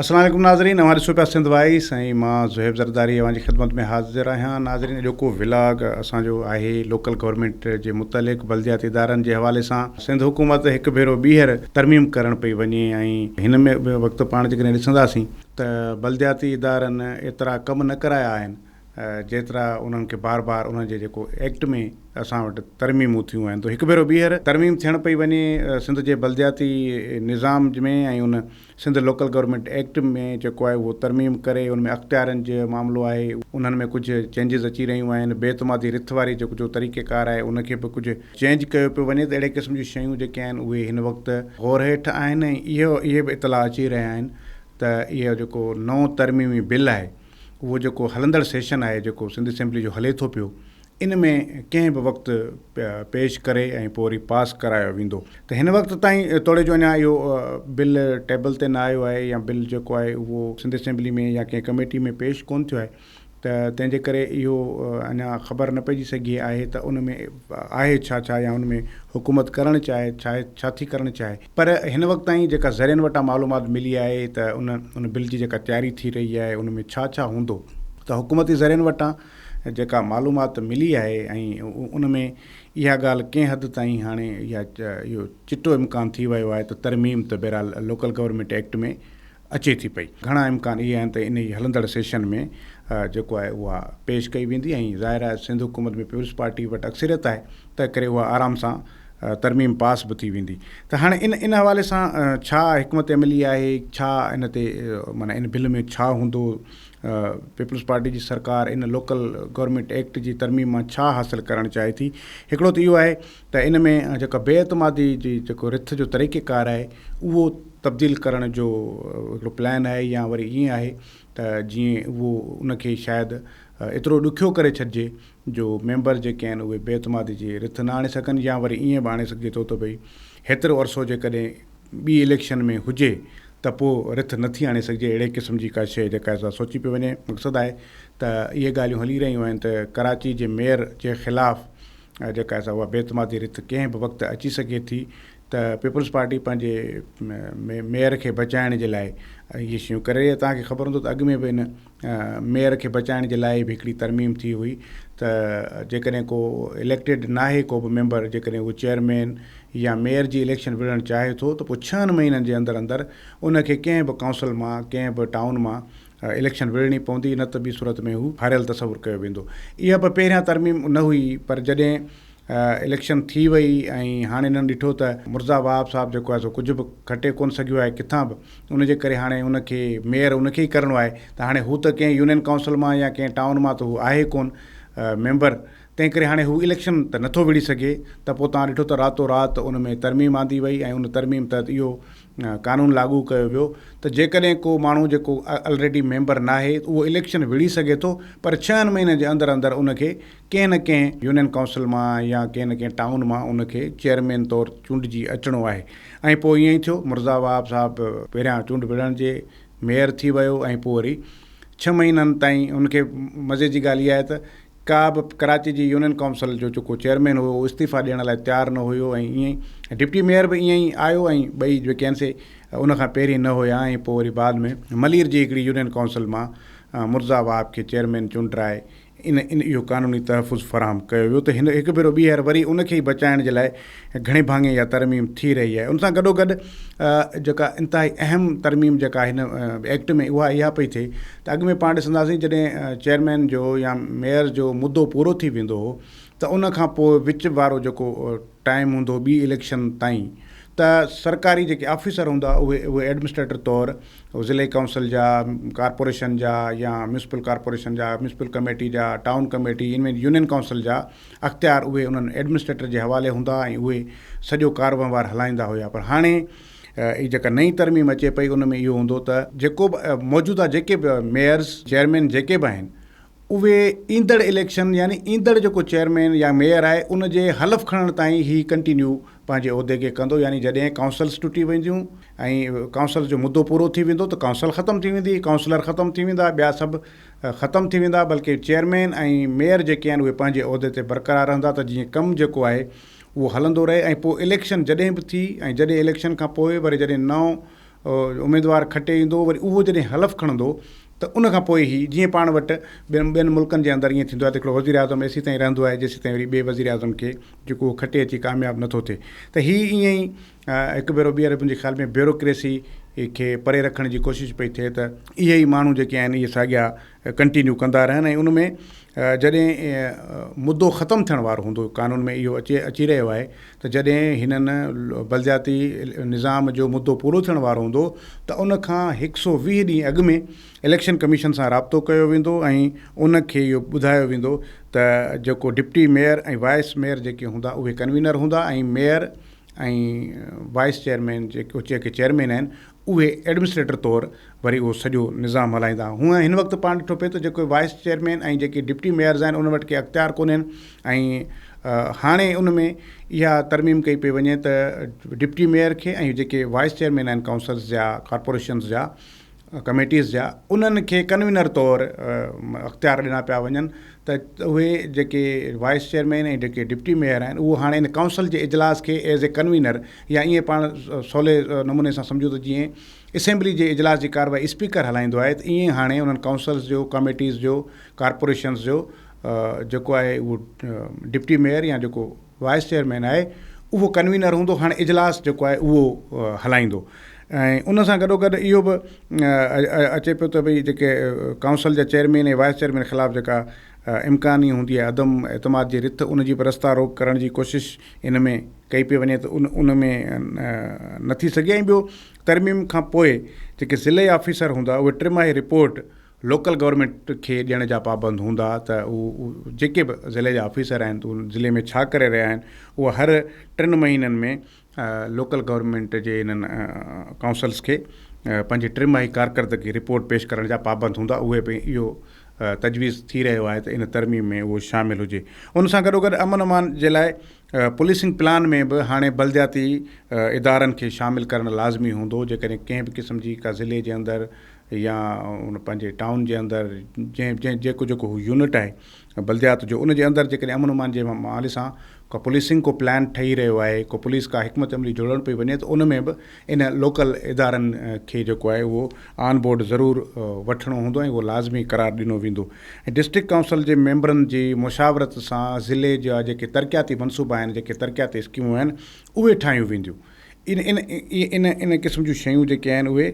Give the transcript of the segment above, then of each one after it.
السلام عليڪم ناظرين اوهان ڏسو پيا سنڌ وائيس ۽ مان زوهيب زرداري اوهان جي خدمت ۾ حاضر آهيان ناظرين اڄوڪو ولاگ اسان جو آهي لوڪل گورنمينٽ جي متعلق بلدياتي ادارن جي حوالي سان سنڌ حڪومت هڪ ڀيرو ٻيهر ترميم ڪرڻ پئي وڃي ۽ هن ۾ به وقت پاڻ جيڪڏهن ڏسنداسين ته بلدياتي ادارن ايترا ڪم نه ڪرايا آهن جيترا انهن کي بار بار انهن جي جيڪو ايڪٽ ۾ اسان وٽ ترميمون ٿيون آهن تو هڪ ڀيرو ٻيهر ترميم ٿيڻ پئي وڃي سنڌ جي بلدياتي نظام ۾ ۽ ان سنڌ لوڪل گورنمينٽ ايڪٽ ۾ جيڪو آهي اهو ترميم ڪري ان ۾ اختيارن جو معاملو آهي انهن ۾ ڪجهه چينجز اچي رهيون آهن بي اعتمادي رٿ واري جيڪو جو طريقي ڪار آهي ان کي به ڪجهه چينج ڪيو پيو وڃي ته اهڙي قسم جون شيون جيڪي آهن اهي هن وقت غور هيٺ آهن ۽ اهو اهي به اطلاع اچي رهيا آهن ته اهو جيڪو نئون ترميمي بل آهي اهو جيڪو هلندڙ سيشن آهي جيڪو سنڌ اسيمبلي جو هلي ٿو پيو ان ۾ ڪنهن به وقت پيش ڪري ۽ پوء وري پاس ڪرايو ويندو ته هن وقت تائين توڙي جو اڃا اهو بل ٽيبل تي نه آيو آهي يا بل جيڪو آهي اهو سنڌ اسيمبلي ۾ يا ڪنهن ڪميٽي ۾ پيش ڪونه ٿيو آهي ته تنهن جي ڪري اهو اڃا خبر نه پئجي سگهي آهي ته ان ۾ آهي ڇا ڇا يا ان ۾ حڪومت ڪرڻ چاهي ڇا ڇا ٿي ڪرڻ چاهي پر هن وقت تائين جيڪا ذريعن وٽان معلومات ملي آهي ته ان ان بل جي جيڪا تياري ٿي رهي آهي ان ۾ ڇا ڇا هوندو ته حڪومتي ذريعن وٽان جيڪا معلومات ملي آهي ۽ ان ۾ اها ڳالهه ڪنهن حد تائين هاڻي اها اهو چٽو امڪان ٿي ويو آهي ته ترميم ته بهرحال لوڪل گورنمينٽ ايڪٽ ۾ اچي ٿي پئي. گهڻا امڪان اهي آهن ته انهي هلندڙ سيشن ۾ جيڪو آهي اها پيش ڪئي ويندي ۽ ظاهر آهي سنڌ حڪومت ۾ پيپلز پارٽي وٽ اڪثريت آهي تنهن ڪري اها آرام سان ترميم پاس به ٿي ويندي ته هاڻي ان ان حوالي سان ڇا حڪمت عملي آهي ڇا ان تي معنيٰ ان بل ۾ ڇا هوندو پيپلز پارٽي جي سرڪار ان لوڪل گورنمينٽ ايڪٽ جي ترميم مان ڇا حاصل ڪرڻ چاهي ٿي هڪڙو ته اهو آهي ته ان ۾ جيڪا بي اعتمادي جي جيڪو رٿ جو طريقه ڪار آهي اهو تبديل ڪرڻ جو هڪڙو پلان آهي يا وري ائين آهي ته جيئن اهو ان کي شايد ايترو ڏکيو ڪري ڇڏجي جو ميمبر جيڪي آهن اهي بي اعتمادي جي رٿ نه آڻي سگهن يا وري ائين به آڻي سگهجي ٿو ته ڀئي هيترو عرصو جيڪڏهن ٻي اليڪشن ۾ هجي ته پوء رٿ نه ٿي آڻي سگهجي اهڙي قسم جي ڪا شيء جيڪا سا سوچي پئي وڃي مقصد آهي ته اهي ڳالهيون هلي رهيون آهن ته ڪراچي جي ميئر جي خلاف جيڪا سا اها بي اعتمادي رٿ ڪنهن به وقت اچي سگهي ٿي ته پيپلز پارٽي پنهنجي ميئر کي بچائڻ جي لاء اهي شيون ڪري رهي آهي توهان کي خبر هوندو ته اڳ ۾ به ان ميئر کي بچائڻ جي لاء به هڪڙي ترميم ٿي هئي ته جيڪڏهن ڪو اليڪٽيڊ ناهي ڪو به ميمبر جيڪڏهن هو چيئرمين يا ميئر جي اليڪشن وڙهڻ چاهي ٿو ته پوء ڇهن مهينن جي اندر اندر ان کي ڪنهن به ڪائونسل مان ڪنهن به ٽائون مان اليڪشن وڙهڻي پوندي نه ته ٻي صورت ۾ هو هاريل تصور ڪيو ويندو. اها به پهريان ترميم نه هئي پر جڏهن اليڪشن ٿي وئي ۽ هاڻي هنن ڏٺو ته مرزا وهاب صاحب جيڪو آهي سو ڪجهه به کٽي ڪونه سگهيو آهي ڪٿان به ان جي ڪري هاڻي ان کي ميئر ان کي ئي ڪرڻو آهي ته هاڻي هو ته ڪنهن يونين ڪائونسل مان يا ڪنهن ٽائون مان ته هو آهي ڪونه ميمبر تنهن ڪري هاڻي هو اليڪشن ته نٿو وڙهي سگهي ته پوء توهان ڏٺو ته راتو رات ان ۾ ترميم آندي وئي ۽ ان ترميم تحت اهو قانون لاڳو ڪيو ويو ته جيڪڏهن ڪو ماڻهو جيڪو الريڊي ميمبر ناهي اهو اليڪشن وڙهي سگهي ٿو پر ڇهن مهينن جي اندر اندر ان کي ڪنهن نه ڪنهن يونين ڪائونسل مان يا ڪنهن نه ڪنهن ٽائون مان ان کي چيئرمين طور چونڊجي اچڻو آهي ۽ پوء ائين ئي ٿيو مرزا وهاب صاحب پهريان چونڊ وڙهڻ جي ميئر ٿي ويو ۽ پوء وري ڇهه مهينن تائين ان کي مزي جي ڳالهه اها آهي ته ڪا به ڪراچي جي يونين ڪائونسل جو جيڪو چيئرمين هيو اهو استعيفا ڏيڻ لاء تيار نه هيو ۽ ائين ئي ڊپٽي ميئر به ائين ئي آيو ۽ ٻئي جيڪي آهن سي ان کان پهرين نه هيا ۽ پوء وري بعد ۾ ملير جي هڪڙي يونين ڪائونسل مان مرزا وهاب کي چيئرمين چونڊرائي ان ان اهو قانوني تحفظ فراهم ڪيو ويو ته هن هڪ ڀيرو ٻيهر وري ان کي ئي بچائڻ جي لاء گهڻي ڀاڱي اها ترميم ٿي رهي آهي ان سان گڏوگڏ جيڪا انتهائي اهم ترميم جيڪا هن ايڪٽ ۾ اها اها پئي ٿئي ته اڳ ۾ پاڻ ڏسنداسين جڏهن چيئرمين جو يا ميئر جو مدو پورو ٿي ويندو هو ته ان کان پوء وچ وارو جيڪو ٽائيم هوندو ٻي اليڪشن تائين ته سرڪاري جيڪي آفيسر هوندا اهي اهي ايڊمنسٽريٽر طور ضلعي ڪائونسل جا، ڪارپوريشن جا يا ميونسپل ڪارپوريشن جا، ميونسپل ڪميٽي جا، ٽائون ڪميٽي ان مين يونين ڪائونسل جا اختيار اهي انهن ايڊمنسٽريٽر جي حوالي هوندا ۽ اهي سڄو ڪاروهنوار هلائيندا هيا پر هاڻي هي جيڪا نئين ترميم اچي پئي ان ۾ اهو هوندو ته جيڪو به موجوده جيڪي به ميئرز چيئرمين جيڪي به آهن اهي ايندڙ اليڪشن يعني ايندڙ جيڪو چيئرمين يا ميئر آهي ان جي حلف کڻڻ تائين هي ڪنٽينيو پنهنجي عهدي کي ڪندو يعني جڏهن ڪائونسلز ٽٽي وينديون ۽ ڪائونسلز جو مدو پورو ٿي ويندو ته ڪائونسل ختم ٿي ويندي ڪائونسلر ختم ٿي ويندا ٻيا سڀ ختم ٿي ويندا بلڪه چيئرمين ۽ ميئر جيڪي آهن اهي پنهنجي عهدي تي برقرار رهندا ته جيئن ڪم جيڪو آهي اهو هلندو رهي ۽ پوء اليڪشن جڏهن به ٿي ۽ جڏهن اليڪشن کان پوء وري جڏهن نئون اميدوار کٽي ايندو وري اهو جڏهن حلف کڻندو ته ان کان پوء هي جيئن پاڻ وٽ ٻين ملڪن جي اندر ائين ٿيندو آهي ته هڪڙو وزيراعظم ايسي تائين رهندو آهي جيسي تائين وري ٻئي وزيراعظم کي جيڪو هو کٽي اچي ڪامياب نه ٿو ٿئي ته هي ائين ئي هڪ ڀيرو ٻيهر منهنجي خيال ۾ بيوروڪريسي کي پري رکڻ جي ڪوشش پئي ٿئي ته اهي ئي ماڻهو جيڪي آهن اهي ساڳيا ڪنٽينيو ڪندا رهن ۽ ان ۾ جڏهن مدو ختم ٿيڻ وارو هوندو قانون ۾ اهو اچي اچي رهيو آهي ته جڏهن هنن بلدياتي نظام جو مدو پورو ٿيڻ وارو هوندو ته ان کان هڪ سو ويهه ڏينهن اڳ ۾ اليڪشن ڪميشن سان رابطو ڪيو ويندو ۽ ان کي اهو ٻڌايو ويندو ته جيڪو ڊپٽي ميئر ۽ وائيس ميئر جيڪي هوندا اهي ڪنوينر هوندا ۽ ميئر ۽ وائيس چيئرمين جيڪو جيڪي چيئرمين آهن اهي ايڊمنسٽريٽر طور وري اهو سڄو نظام هلائيندا هونء هن وقت پاڻ ڏٺو پئي ته جيڪو وائيس چيئرمين ۽ جيڪي ڊپٽي ميئرز آهن ان وٽ ڪي اختيار ڪونهن ۽ هاڻي ان ۾ اها ترميم ڪئي پئي وڃي ته ڊپٽي ميئر کي ۽ جيڪي وائيس چيئرمين آهن ڪائونسلز جا ڪارپوريشنز جا ڪميٽيز جا انهن کي ڪنوينر طور اختيار ڏنا پيا وڃن ته اهي جيڪي وائيس چيئرمين ۽ جيڪي ڊپٽي ميئر آهن اهو هاڻي ان ڪائونسل جي اجلاس کي ايز اي ڪنوينر يا ائين پاڻ سولي نموني سان سمجهو ته جيئن اسيمبلي جي اجلاس جي ڪارروائي اسپيڪر هلائيندو آهي ته ائين هاڻي انهن ڪائونسلز جو ڪميٽيز جو ڪارپوريشنز جو جيڪو آهي اهو ڊپٽي ميئر يا جيڪو وائيس چيئرمين آهي اهو ڪنوينر هوندو هاڻ اجلاس جيڪو آهي اهو هلائيندو ۽ ان سان گڏوگڏ اهو به اچي پيو ته ڀئي جيڪي ڪائونسل جا چيئرمين ۽ وائيس چيئرمين خلاف جيڪا امڪاني هوندي آهي عدم اعتماد جي رٿ ان جي به رستا روڪ ڪرڻ جي ڪوشش ان ۾ ڪئي پئي وڃي ته ان ان ۾ نه ٿي سگهي ۽ ٻيو ترميم کان پوء جيڪي ضلعي آفيسر هوندا اهي ٽي ماهي رپورٽ لوڪل گورنمينٽ کي ڏيڻ جا پابند هوندا ته اهو جيڪي به ضلعي جا آفيسر آهن ته ضلعي ۾ ڇا ڪري رهيا آهن اهو هر ٽن مهينن ۾ لوڪل گورنمينٽ جي انهن ڪائونسلس کي پنهنجي ٽن ماهي ڪارڪردگي رپورٽ پيش ڪرڻ جا پابند هوندا اهي به اهو تجويز ٿي رهيو آهي ته ان ترميم ۾ اهو شامل هجي ان سان گڏوگڏ امن امان جي لاء پوليسنگ پلان ۾ به هاڻي بلدياتي ادارن کي شامل ڪرڻ لازمي هوندو جيڪڏهن ڪنهن به قسم جي ڪا ضلعي جي اندر يا ان پنهنجي ٽائون جي اندر جنهن جنهن جيڪو جيڪو هو يونٽ آهي بلديات جو ان جي اندر جيڪڏهن امن امان جي حوالي سان ڪا پوليسنگ ڪو پلان ٺهي رهيو آهي ڪو پوليس ڪا حڪمت عملي جوڙڻ پئي وڃي ته ان ۾ به ان لوڪل ادارن کي جيڪو آهي اهو آن بورڊ ضرور وٺڻو هوندو ۽ اهو لازمي قرار ڏنو ويندو ۽ ڊسٽرڪٽ ڪائونسل جي ميمبرن جي مشاورت سان ضلعي جا جيڪي ترقياتي منصوبا آهن جيڪي ترقياتي اسڪيمون آهن اهي ٺاهيون وينديون ان ان ان قسم جون شيون جيڪي آهن اهي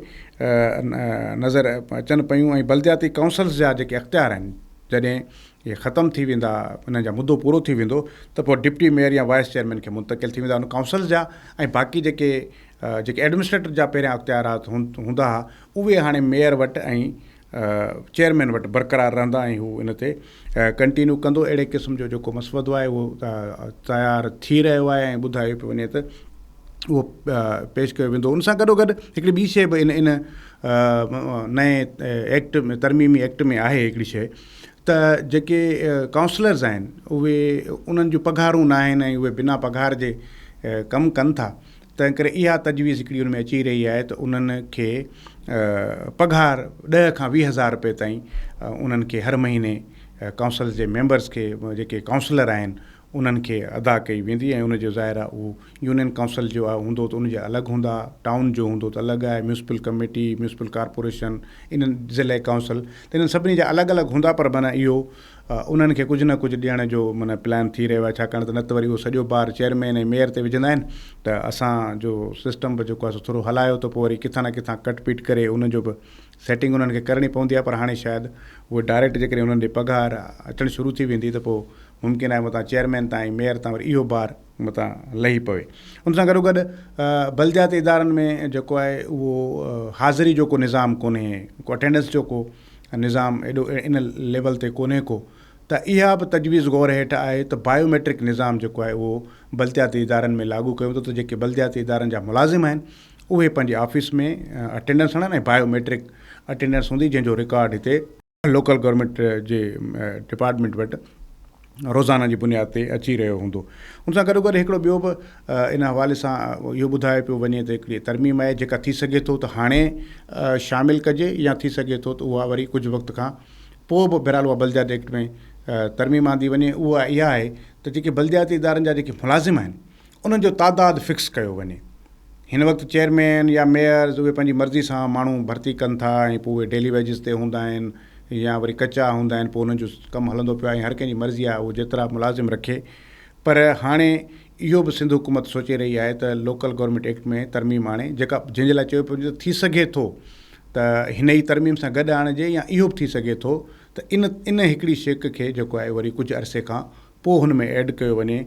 نظر اچن پيون ۽ بلدياتي ڪائونسلز جا جيڪي اختيار آهن جڏهن اهي ختم ٿي ويندا انهن جا مدو پورو ٿي ويندو ته پوء ڊپٽي ميئر يا وائيس چيئرمين کي منتقل ٿي ويندا ان ڪائونسلز جا ۽ باقي جيڪي جيڪي ايڊمنسٽريٽر جا پهريان اختيارات هوندا هئا اهي هاڻي ميئر وٽ ۽ چيئرمين وٽ برقرار رهندا ۽ هو ان تي ڪنٽينيو ڪندو اهڙي قسم جو جيڪو مسودو آهي اهو تيار ٿي رهيو آهي ۽ ٻڌايو پيو وڃي ته اهو پيش ڪيو ويندو ان سان گڏو گڏ هڪڙي ٻي شي به ان ان نئين ايڪٽ ۾ ترميمي ايڪٽ ۾ آهي هڪڙي شي ته جيڪي ڪائونسلرز آهن اهي انهن جون پگهارون نه آهن ۽ اهي بنا پگهار جي ڪم ڪن ٿا تنهنڪري اها تجويز هڪڙي ان ۾ اچي رهي آهي ته انهن کي پگهار ڏهه کان ويهه هزار روپيه تائين انهن کي هر مهيني ڪائونسلز جي ميمبرز کي جيڪي ڪائونسلر آهن انهن کي ادا ڪئي ويندي ۽ ان جو ظاهر آهي اهو يونين ڪائونسل جو آهي هوندو ته ان جا الڳ هوندا ٽائون جو هوندو ته الڳ آهي ميونسپل ڪميٽي ميونسپل ڪارپوريشن انهن ضلعي ڪائونسل ته انهن سڀني جا الڳ الڳ هوندا پر معنيٰ اهو انهن کي ڪجهه نه ڪجهه ڏيڻ جو معنيٰ پلان ٿي رهيو آهي ڇاڪاڻ ته نه ته وري اهو سڄو بار چيئرمين ۽ ميئر تي وجهندا آهن ته اسان جو سسٽم به جيڪو آهي سو ٿورو هلايو ته پوء وري ڪٿان نه ڪٿان ڪٽ پيٽ ڪري ان جو به سيٽنگ انهن کي ڪرڻي پوندي آهي پر هاڻي شايد اهي ڊائريڪٽ جيڪڏهن انهن ڏي پگهار اچڻ شروع ٿي ويندي ته پوء ممڪن آهي متان چيئرمين تان ۽ ميئر تان وري اهو بار متان لهي پوي ان سان گڏو گڏ بلدياتي ادارن ۾ جيڪو آهي اهو حاضري جو ڪو نظام ڪونهي ڪو اٽينڊنس جو ڪو نظام ايڏو ان ليول تي ڪونهي ڪو ته اها به تجويز غور هيٺ آهي ته بايو ميٽرڪ نظام جيڪو آهي اهو بلدياتي ادارن ۾ لاڳو ڪيو ويندو ته جيڪي بلدياتي ادارن جا ملازم آهن اهي پنهنجي آفيس ۾ اٽينڊنس هڻن ۽ بايو ميٽرڪ اٽينڊنس هوندي جنهن جو رڪارڊ هتي لوڪل گورنمينٽ جي ڊپارٽمينٽ وٽ روزانه جي بنياد تي اچي رهيو هوندو. ان سان گڏوگڏ هڪڙو ٻيو به ان حوالي سان اهو ٻڌايو پيو وڃي ته هڪڙي ترميم آهي جيڪا ٿي سگهي ٿو ته هاڻي شامل ڪجي يا ٿي سگهي ٿو ته اها وري ڪجهه وقت کان پوء به بهرحال اها بلديات ايڪٽ ۾ ترميم آندي وڃي اها اها آهي ته جيڪي بلدياتي ادارن جا جيڪي ملازم آهن انهن جو تعداد فڪس ڪيو وڃي. هن وقت چيئرمين يا ميئرز اهي پنهنجي مرضي سان ماڻهو ڀرتي ڪن ٿا ۽ پوء اهي ڊيلي ويجز تي هوندا آهن يا وري ڪچا هوندا آهن پوء انهن جو ڪم هلندو پيو آهي ۽ هر ڪنهن جي مرضي آهي اهو جيترا ملازم رکي پر هاڻي اهو به سنڌ حڪومت سوچي رهي آهي ته لوڪل گورنمينٽ ايڪٽ ۾ ترميم آڻي جيڪا جنهن جي لاء چيو پيو وڃي ته ٿي سگهي ٿو ته هن ئي ترميم سان گڏ آڻجي يا اهو به ٿي سگهي ٿو ته ان ان هڪڙي شيڪ کي جيڪو آهي وري ڪجهه عرصي کان پوء هن ۾ ايڊ ڪيو وڃي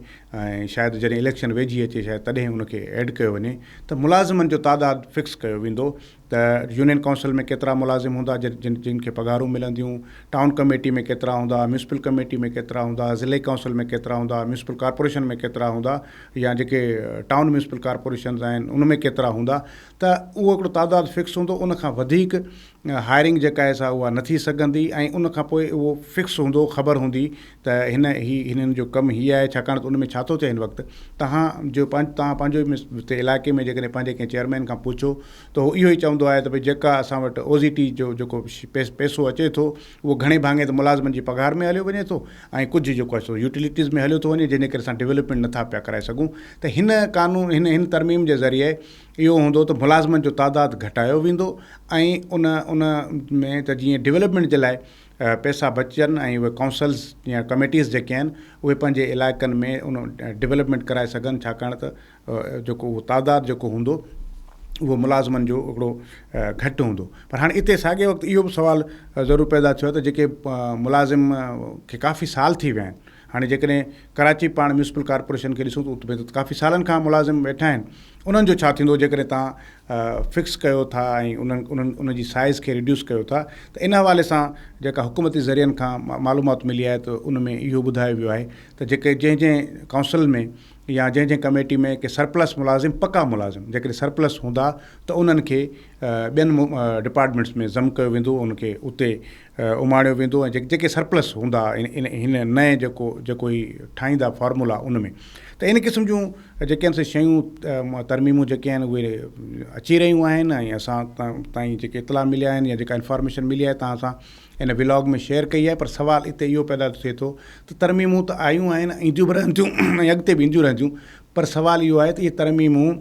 ۽ شايد جڏهن اليڪشن ويجهي اچي شايد تڏهن ان کي ايڊ ڪيو وڃي ته ملازمن جو تعداد فڪس ڪيو ويندو ته يونين ڪائونسل ۾ ڪيترا ملازم هوندا جن جن کي پگهارون ملنديون، ٽائون ڪميٽي ۾ ڪيترا هوندا، ميونسپل ڪميٽي ۾ ڪيترا هوندا، ضلعي ڪائونسل ۾ ڪيترا هوندا، ميونسپل ڪارپوريشن ۾ ڪيترا هوندا يا جيڪي ٽائون ميونسپل ڪارپوريشنز آهن ان ۾ ڪيترا هوندا ته اهو هڪڙو تعداد فڪس هوندو ان کان وڌيڪ هائرنگ جيڪا آهي سا اها نه ٿي سگهندي ۽ ان کان پوء اهو فڪس هوندو خبر هوندي ته هن هي هنن جو ڪم هي آهي ڇاڪاڻ ته ان ۾ ڇا ٿو ٿئي هن وقت توهان جو پنهنج توهان پنهنجو هتي علائقي ۾ جيڪڏهن پنهنجي ڪنهن چيئرمين کان پڇو ته هو اهو ئي چوندو آهي ته ڀئي جيڪا اسان وٽ او زي ٽي جو جيڪو پيسو اچي ٿو اهو گهڻي ڀاڱي ته ملازمن جي پگهار ۾ هليو وڃي ٿو ۽ ڪجهه جيڪو آهي سو يوٽيلٽيز ۾ هليو ٿو وڃي جنهن جي ڪري اسان ڊولپمينٽ نه ٿا پيا ڪرائي سگهون ته هن قانون هن هن ترميم جي ذريعي اهو هوندو ته ملازمن جو تعداد گهٽايو ويندو ۽ ان ان ۾ ته جيئن ڊولپمينٽ جي لاء پئسا بچجن ۽ اهي ڪائونسلز يا ڪميٽيز جيڪي آهن اهي پنهنجي علائقن ۾ ان ڊولپمينٽ ڪرائي سگهن ڇاڪاڻ ته جيڪو اهو تعداد جيڪو هوندو اهو ملازمن جو هڪڙو گهٽ هوندو پر هاڻي اتي ساڳي وقت اهو به سوال ضرور پيدا ٿيو ته جيڪي ملازم کي ڪافي سال ٿي ويا آهن هاڻي جيڪڏهن ڪراچي پاڻ ميونسپل ڪارپوريشن کي ڏسون ته اتي ته ڪافي سالن کان ملازم ويٺا آهن انهن جو ڇا ٿيندو جيڪڏهن تان فڪس ڪيو ٿا ۽ انهن ان جي سائز کي ريڊيوس ڪيو ٿا ته ان حوالي سان جيڪا حڪومتي ذريعن کان معلومات ملي آهي ته ان ۾ اهو ٻڌايو ويو آهي ته جيڪي جنهن جنهن ڪائونسل ۾ يا جنهن جنهن ڪميٽي ۾ ڪي سرپلس ملازم پڪا ملازم جيڪڏهن سرپلس هوندا ته انهن کي ٻين ڊپارٽمينٽس ۾ ضم ڪيو ويندو ان کي اتي اماڻيو ويندو ۽ جيڪي سرپلس هوندا ان هن نئين جيڪو جيڪو هي ٺاهيندا فارمولا ان ۾ ته ان قسم جون جيڪي آهن سي شيون ترميمون جيڪي آهن اهي اچي رهيون آهن ۽ اسان تائين جيڪي اطلاع مليا آهن يا جيڪا انفارميشن ملي آهي تان سان ان ولاگ ۾ شيئر ڪئي آهي پر سوال اتي اهو پيدا ٿئي ٿو ته ترميمون ته آيون آهن اينديون به رهنديون ۽ اڳتي به اينديون رهنديون پر سوال اهو آهي ته اهي ترميمون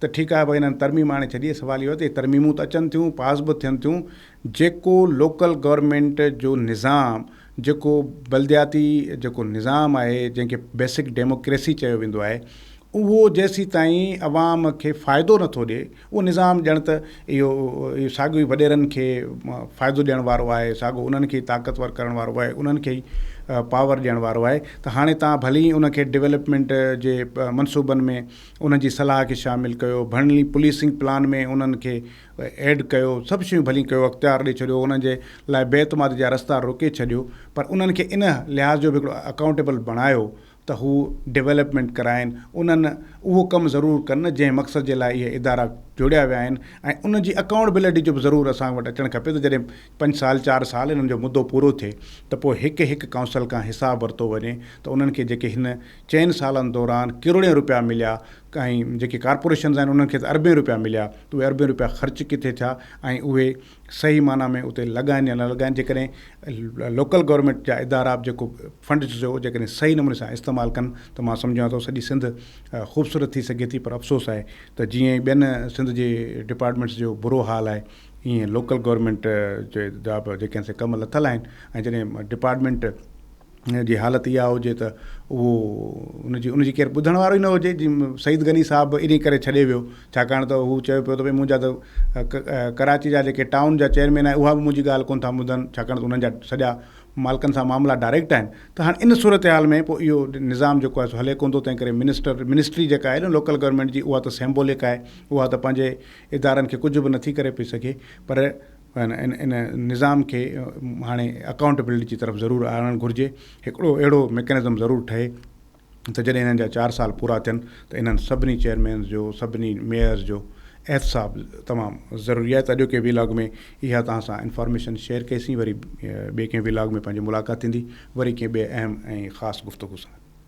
ته ٺيڪ آهي ڀاء انهن ترميم آڻي ڇڏي، سوال اهو آهي ته هي ترميمون ته اچن ٿيون، پاس به ٿين ٿيون، جيڪو لوڪل گورنمينٽ جو نظام، جيڪو بلدياتي جيڪو نظام آهي، جنهن کي بيسڪ ڊيموڪريسي چيو ويندو آهي، اهو جيسيتائين عوام کي فائدو نٿو ڏئي، اهو نظام ڄڻ ته اهو اهو ساڳيو ئي وڏيرن کي فائدو ڏيڻ وارو آهي، ساڳيو انهن کي ئي طاقتور ڪرڻ وارو آهي، انهن کي ئي پاور ڏيڻ وارو آهي ته هاڻي توهان ڀلي ان کي ڊولپمينٽ جي منصوبن ۾ انهن جي صلاح کي شامل ڪيو، ڀڻلي پوليسنگ پلان ۾ انهن کي ايڊ ڪيو، سڀ شيون ڀلين ڪيو، اختيار ڏئي ڇڏيو، انهن جي لاء بي اعتمادي جا رستا روڪي ڇڏيو پر انهن کي ان لحاظ جو به هڪڙو اڪائونٽيبل بڻايو ته هو ڊولپمينٽ ڪرائين، انهن اهو ڪم ضرور ڪن جنهن مقصد جي لاء اهي ادارا جوڙيا ويا آهن ۽ ان جي اڪائونٽبلٽي جو به ضرور اسان وٽ اچڻ کپي ته جڏهن پنج سال چار سال انهن جو مدو پورو ٿئي ته پوء هڪ هڪ ڪائونسل کان حساب ورتو وڃي ته انهن کي جيڪي هن چئن سالن دوران ڪروڙين رپيا مليا ۽ جيڪي ڪارپوريشنز آهن انهن کي ته اربين رپيا مليا ته اهي اربين رپيا خرچ ڪٿي ٿيا ۽ اهي صحيح معنيٰ ۾ اتي لڳائن يا نه لڳائن جيڪڏهن لوڪل گورنمينٽ جا ادارا به جيڪو فنڊز جو جيڪڏهن صحيح نموني سان استعمال ڪن ته مان سمجهان ٿو سڄي سنڌ خوبصورت ٿي سگهي ٿي پر افسوس آهي ته جيئن ئي ٻين سنڌ جي ڊپارٽمينٽس جو برو حال آهي ايئن لوڪل گورنمينٽ جا به جيڪي سي ڪم لٿل آهن ۽ جڏهن ڊپارٽمينٽ ان جي حالت اها هجي ته اهو ان جي ان جي ڪير ٻڌڻ وارو ئي نه هجي جي سعيد غني صاحب به انهي ڪري ڇڏي ويو ڇاڪاڻ ته هو چيو پيو ته ڀئي منهنجا ته ڪراچي جا جيڪي ٽائون جا چيئرمين آهن اها به منهنجي ڳالهه ڪونه ٿا ٻڌن ڇاڪاڻ ته انهن جا سڄا مالڪن سان معاملا ڊائريڪٽ آهن ته هاڻي ان صورتحال ۾ پوء اهو نظام جيڪو آهي سو هلي ڪونه ٿو تنهن ڪري منسٽر منسٽري جيڪا آهي لوڪل گورنمينٽ جي اها ته سيمبولڪ آهي اها ته پنهنجي ادارن کي ڪجهه به نٿي ڪري پئي سگهي پر ان ان نظام کي هاڻي اڪائونٽيبلٽي جي طرف ضرور آڻڻ گهرجي. هڪڙو اهڙو ميڪنزم ضرور ٺهي ته جڏهن انهن جا چار سال پورا ٿين ته انهن سڀني چيئرمينز جو سڀني ميئرز جو احتساب تمام ضروري آهي ته اڄوڪي ويلاگ ۾ اها توهان سان انفارميشن شيئر ڪئي سين وري ٻئي ڪنهن ويلاگ ۾ پنهنجي ملاقات ٿيندي وري ڪنهن ٻئي اهم ۽ خاص گفتگو سان.